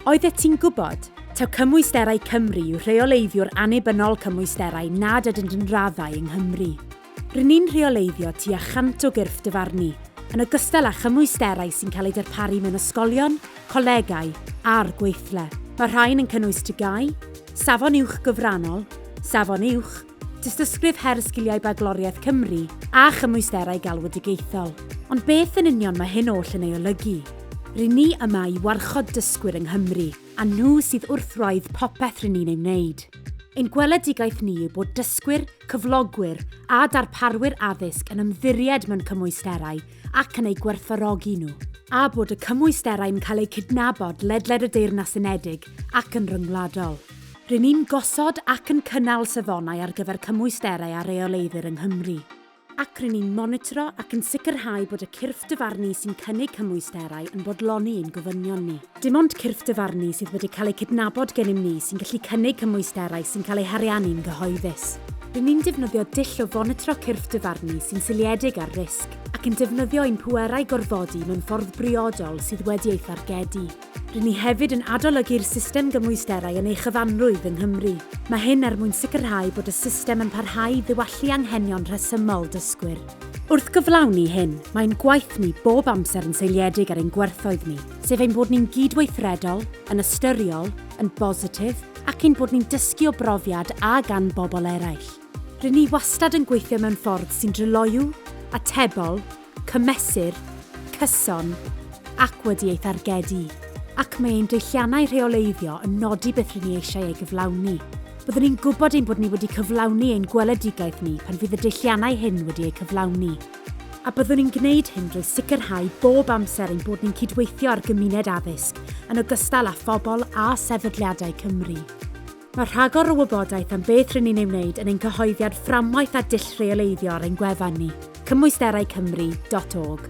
Oeddet ti'n gwybod? Taw Cymwysterau Cymru yw rheoleiddiwr annibynnol cymwysterau nad ydynt yn raddau yng Nghymru. Rŷn ni'n rheoleiddio tua chant o gyrff dyfarnu, yn ogystal â chymwysterau sy'n cael eu darparu mewn ysgolion, colegau a'r gweithle. Mae'r rhain yn cynnwys TGAU, Safon Uwch Gyfrannol, Safon Uwch, Dystysgrif her sgiliau bagloriaeth Cymru a chymwysterau galwedigaethol. Ond beth yn union mae hyn oll yn ei olygu? Ry'n ni yma i warchod dysgwyr yng Nghymru, a nhw sydd wrth wraidd popeth ry'n ni'n ei wneud. Ein gweledigaeth ni yw bod dysgwyr, cyflogwyr a darparwyr addysg yn ymddiried mewn cymwysterau ac yn eu gwerthfawrogi nhw, a bod y cymwysterau'n cael eu cydnabod ledled y Deyrnas Unedig ac yn ryngwladol. Ry'n ni'n gosod ac yn cynnal safonau ar gyfer cymwysterau a reoleiddir yng Nghymru, ac ry'n ni'n monitro ac yn sicrhau bod y cyrff dyfarnu sy'n cynnig cymwysterau yn bodloni ein gofynion ni. Dim ond cyrff dyfarnu sydd wedi cael eu cydnabod gennym ni sy'n gallu cynnig cymwysterau sy'n cael eu hariannu'n gyhoeddus. Ry'n ni'n defnyddio dull o fonitro cyrff dyfarnu sy'n seiliedig ar risg, ac yn defnyddio ein pwerau gorfodi mewn ffordd briodol sydd wedi ei thargedu. Rŷn ni hefyd yn adolygu'r system gymwysterau yn ei chyfanrwydd yng Nghymru. Mae hyn er mwyn sicrhau bod y system yn parhau i ddiwallu anghenion rhesymol dysgwyr. Wrth gyflawni hyn, mae ein gwaith ni bob amser yn seiliedig ar ein gwerthoedd ni, sef ein bod ni'n gydweithredol, yn ystyriol, yn bositif ac ein bod ni'n dysgu o brofiad a gan bobl eraill. Rŷn ni wastad yn gweithio mewn ffordd sy'n dryloyw, atebol, cymesur, cyson, ac wedi ei thargedu, ac mae ein deilliannau rheoleiddio yn nodi beth rŷn ni eisiau ei gyflawni. Byddwn ni'n gwybod ein bod ni wedi cyflawni ein gweledigaeth ni pan fydd y deilliannau hyn wedi eu cyflawni, a byddwn ni'n gwneud hyn drwy sicrhau bob amser ein bod ni'n cydweithio â'r gymuned addysg, yn ogystal â phobl a sefydliadau Cymru. Mae rhagor o wybodaeth am beth rŷn ni'n ei wneud yn ein cyhoeddiad fframwaith a dull rheoleiddio ar ein gwefan ni, cymwysteraucymru dot org.